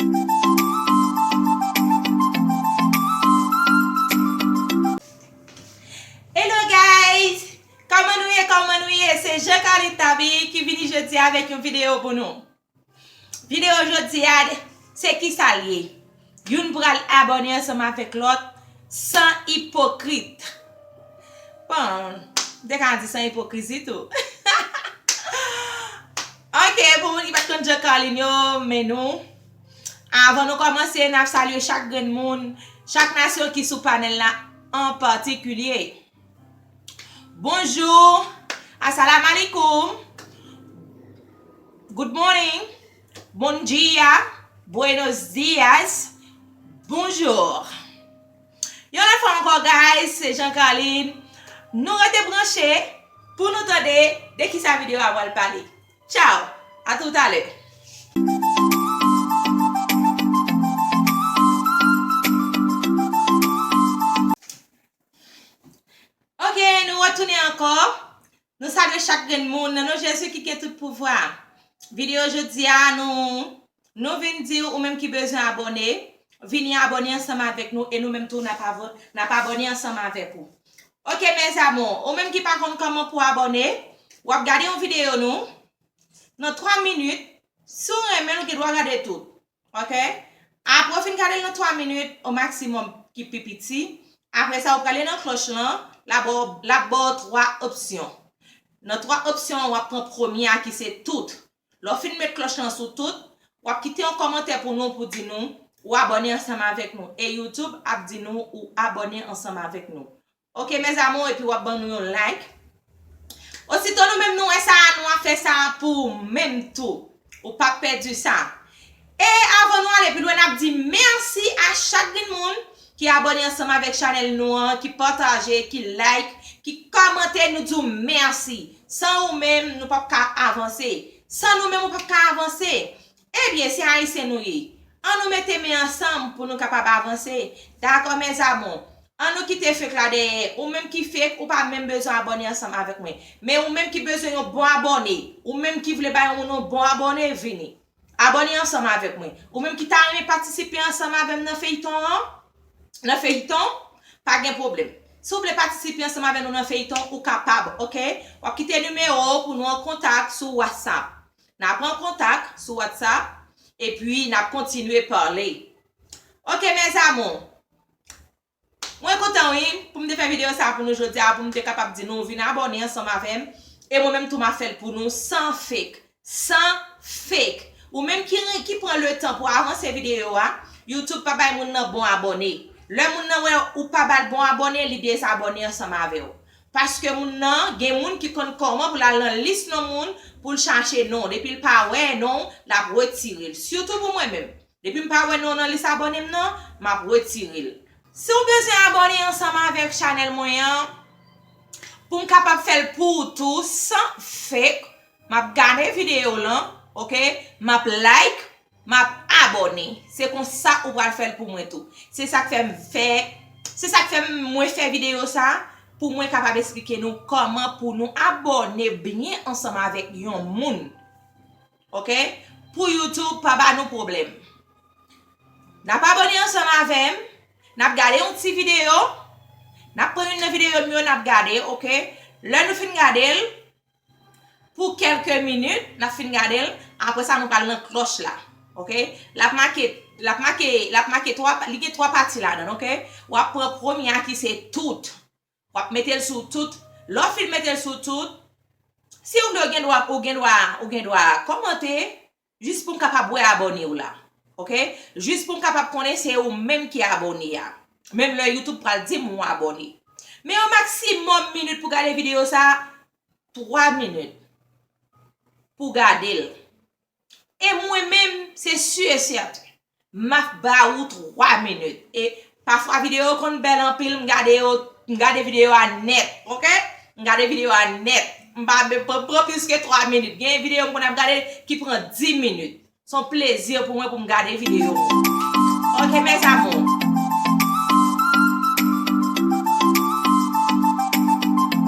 Hello guys Koman nou ye koman nou ye se Jean Carly Taby ki vini jodi avèk yon video pou nou Video jodi a se kisa l ye Youn pral abòne ansanm avèk lòt san ipokrit Bon m te ka di san ipokrizi tou Hahaha Ok pou moun ki pat konn jan Carline yo men nou Avan nou kòmanse nap salye chak grenn moun Chak nasyon ki sou panèl la an patikilye Bonjou Asalamalikoum Good morning Bon dia Buenos dias Bonjour. Yon lòt fwa ankò guys se Jean Carline Nou rete branche pou nou tande de kisa video a pral pale Ciao a tou talè. Ok nou retounen ankò Nou salye chak grenn moun nan non Jezi ki gen tout pouvwa. Video jodi a nou Nou vin diw ou menm ki bezwen abòne vini abòne ansanm avèk nou e nou menm tou nap avò nap abòne ansanm avèk ou ok mes amours ou menm ki pa konn kòman pou abòne wap gade yon video nou nan 3 minit si w renmenl ou gen dwa gade tout Ok Apre ou fin gade l nan 3 minit o maksimòm ki pi piti Apre sa ou prale nan klòch lan la ba w l ap ba w 3 opsyon Nan 3 opsyon an w ap pran premye a ki se tout Lè w fin met klòch lan sou tout w ap kite yon kòmantè pou nou pou di nou ou abòne ansanm avèk nou e youtube ap di nou ou abòne ansanm avèk nou Ok mes amours epi wap ban nou yon like osito nou menm nou wè sa a nou a fè sa a pou ou menm tou ou pap pèdi sa e avan nou ale pi lwen nap di merci a chak grenn moun ki abòne ansanm avèk chanèl nou an ki pataje ki like ki kòmante nou di w merci san ou menm nou pap ka avanse san nou menm ou pap ka avanse Ebyen se ayisyen nou ye an nou mete men ansanm pou nou kapab avanse dakò mes amou an nou kite fek la dèyè ou menm ki fek ou pa menm bezwen abòne ansanm avèk mwen men ou menm ki bezwen yon bon abòne ou menm ki vle bay yon moun yon bon abòne vini abòne ansanm avèk mwen ou menm ki ta renmen patisipe ansanm avèm nan feyton an nan feyton pa gen pwoblèm si ou vle patisipe ansanm avè nou nan feyton ou kapab ok wap kite nimewo ou pou nou an kontak sou whatsapp Na pran kontak sou WhatsApp epi nap kontinye pale. Ok mes amours. Mwen kontan wi pou m te fè video sa pou nou jodi a pou m te kapab di nou vin abone ansanm avè m e mwen menm tou ma fè l pou nou san fake. San fake. Ou menm ki pran le tan pou avanse video a, YouTube pa bay moun nan bon abone. Lè moun nan wè ou pa ba l bon abone li dezabone ansanm avè w. Paske moun nan, gen moun ki konn kòman pou l al nan lis non moun pou l chache non w. Depi l pa wè non w, l ap retire l. Sitou pou mwen menm. Depi m pa wè non w nan lis abòne m nan, m ap retire l. Si w bezwen abòne ansanm avèk chanèl mwen an, pou m kapab fè l pou w tou san fake, m ap gade videyo w lan, ok, m ap like, Map abòne. Se konsa ou pral fèl pou mwen tou. Se sak fèm fè Se sak fèm mwen fè video sa pou mwen kapab esplike nou kòman pou nou abòne byen ansanm avèk yon moun ok pou YouTube pa ba nou pwoblèm. Nap abòne ansanm avèm nap gade yon ti video nap pran youn nan video m yo nap gade ok lè nou fin gadel Pou kelke minit nap fin gadel apre sa nou pral nan klòch la ok lap make lap make lap make 3 li gen 3 pati ladann ok wap pran premye a ki se tout wap metel sou tout lè w fin metel sou tout si ou vle ou gendwa ou gendwa ou gendwa kòmante Jis poum kapab wè abònew la ok jis poum kapab konnen se ou menm ki abòne a menm lè youtube pral dim ou abòne men yon maksimòm minit pou gade videyo sa 3 minit pou gadel e mwen menm se su e sèten Map ba ou 3 minit e pafwa video yo konn bèl anpil m gade yo m gade video a nèt ok m gade video a nèt m pa m pa pran plis ke 3 minit gen video m konn ap gade ki pran 10 minit son plezi pou mwen pou m gade video ou ok mes amours.